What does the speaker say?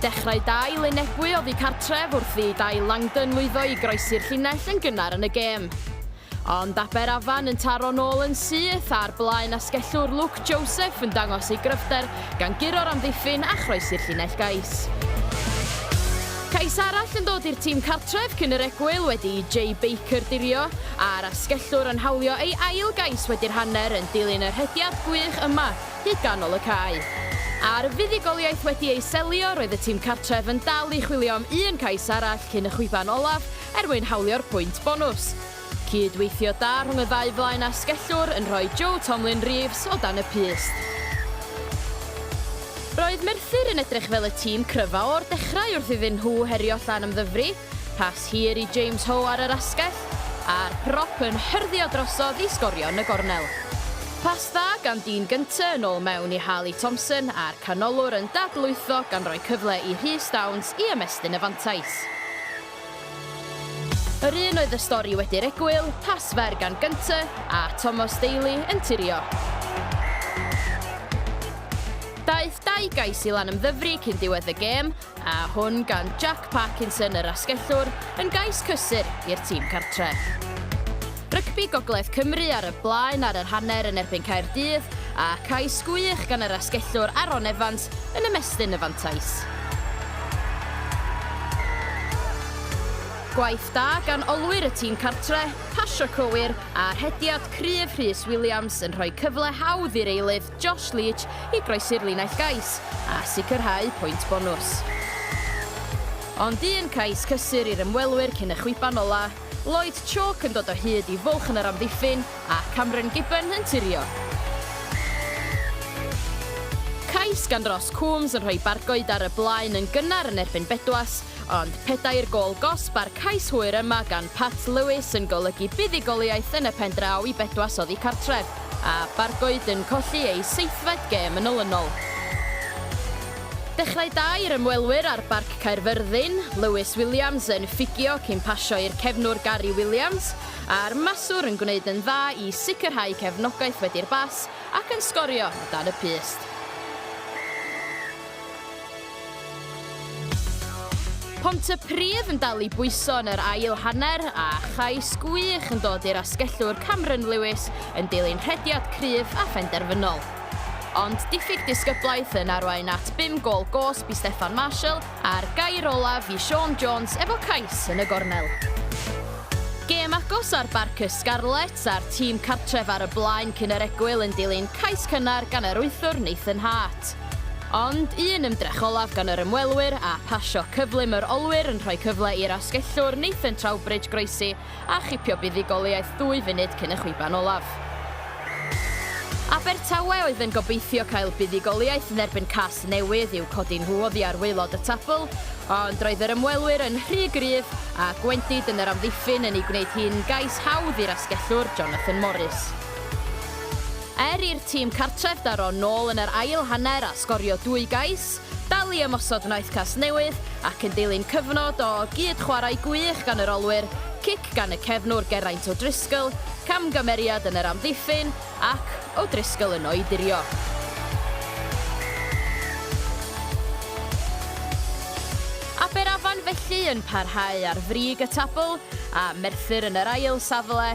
Dechrau da i Lynn Ebwy oddi cartref wrth i Dai Langdon lwyddo i groesi'r llinell yn gynnar yn y gêm. Ond Aber Afan yn taro nôl yn syth a'r blaen asgellwr Luke Joseph yn dangos ei gryfder gan guro'r amddiffyn a chroesi'r llinell gais. Cais arall yn dod i'r tîm cartref cyn yr egwyl wedi i Jay Baker dirio, a'r asgellwr yn hawlio ei ail gais wedi'r hanner yn dilyn y rhediad gwych yma hyd ganol y cae. A'r fuddugoliaeth wedi ei selio, roedd y tîm cartref yn dal i chwilio am un cais arall cyn y chwiban olaf er mwyn hawlio'r pwynt bonws. Cyd-weithio da rhwng y ddau flaen asgellwr yn rhoi Joe Tomlyn Reeves o dan y pyst. Roedd Merthyr yn edrych fel y tîm cryfa o'r dechrau wrth iddyn nhw herio Llanymddyfri, rhas hir i James Ho ar yr asgell, a'r prop yn hyrddio drosodd i sgorio yn y gornel. Pas dda gan Dean Gunter yn ôl mewn i Harley Thompson a'r canolwr yn dadlwytho gan roi cyfle i Rhys Downs i ymestyn y fantais. Yr un oedd y stori wedi'r egwyl, Tass Fair gan Gunter, a Tomos Daly yn turio. Daeth dau gais i Lanymddyfri cyn diwedd y gêm, a hwn gan Jack Parkinson yr asgellwr, yn gais cysur i'r tîm cartref. Rygbi Gogledd Cymru ar y blaen ar yr hanner yn erbyn Caerdydd, a cais gwych gan yr asgellwr Aaron Evans yn ymestyn y fantais. Gwaith da gan olwyr y tîm cartre, pasio cywir, a rhediad cryf Rhys Williams yn rhoi cyfle hawdd i'r eilydd Josh Leach i groesi'r linell gais a sicrhau pwynt bonws. Ond un cais cysur i'r ymwelwyr cyn y chwiban ola. Lloyd Chalk yn dod o hyd i fwlch yn yr amddiffyn a Cameron Gibbon yn turio. Cais gan Ross Coombs yn rhoi Bargoed ar y blaen yn gynnar yn erbyn Bedwas, ond pedair gôl gosb a'r cais hwyr yma gan Pat Lewis yn golygu buddugoliaeth yn y pen draw i Bedwas oddi cartref, a Bargoed yn colli eu seithfed gêm yn olynol. Dechrau da i'r ymwelwyr ar Barc Caerfyrddin, Lewis Williams yn ffugio cyn pasio i'r cefnwr Gary Williams, a'r maswr yn gwneud yn dda i sicrhau cefnogaeth wedi'r bas ac yn sgorio o dan y pyst. Pontypridd yn dal i bwyso yn yr ail hanner a chais gwych yn dod i'r asgellwr Cameron Lewis yn dilyn rhediad cryf a phenderfynol. Ond diffyg disgyblaeth yn arwain at bum gôl gosb i Steffan Marshall a'r gair olaf i Sean Jones efo cais yn y gornel. Gêm agos ar Barc y Scarlets a'r tîm cartref ar y blaen cyn yr egwyl yn dilyn cais cynnar gan yr wythwr Nathan Hart. Ond un ymdrech olaf gan yr ymwelwyr a phasio cyflym yr olwyr yn rhoi cyfle i'r asgellwr Nathan Trowbridge groesi a chipio buddugoliaeth ddwy funud cyn y chwiban olaf. Abertawe oedd yn gobeithio cael buddugoliaeth yn erbyn Casnewydd i'w codi nhw oddi ar waelod y tabl, ond roedd yr ymwelwyr yn rhy gryf a gwendid yn yr amddiffyn yn ei gwneud hi'n gais hawdd i'r asgellwr Jonathan Morris. Er i'r tîm cartref daro nôl yn yr ail hanner a sgorio dwy gais, Dal i ymosod wnaeth Casnewydd ac yn dilyn cyfnod o gyd-chwarae gwych gan yr olwyr, cic gan y cefnwr Geraint O'Driscoll, camgymeriad yn yr amddiffyn ac O'Driscoll yno i dirio. Aberafan felly yn parhau ar frig y tabl a Merthyr yn yr ail safle.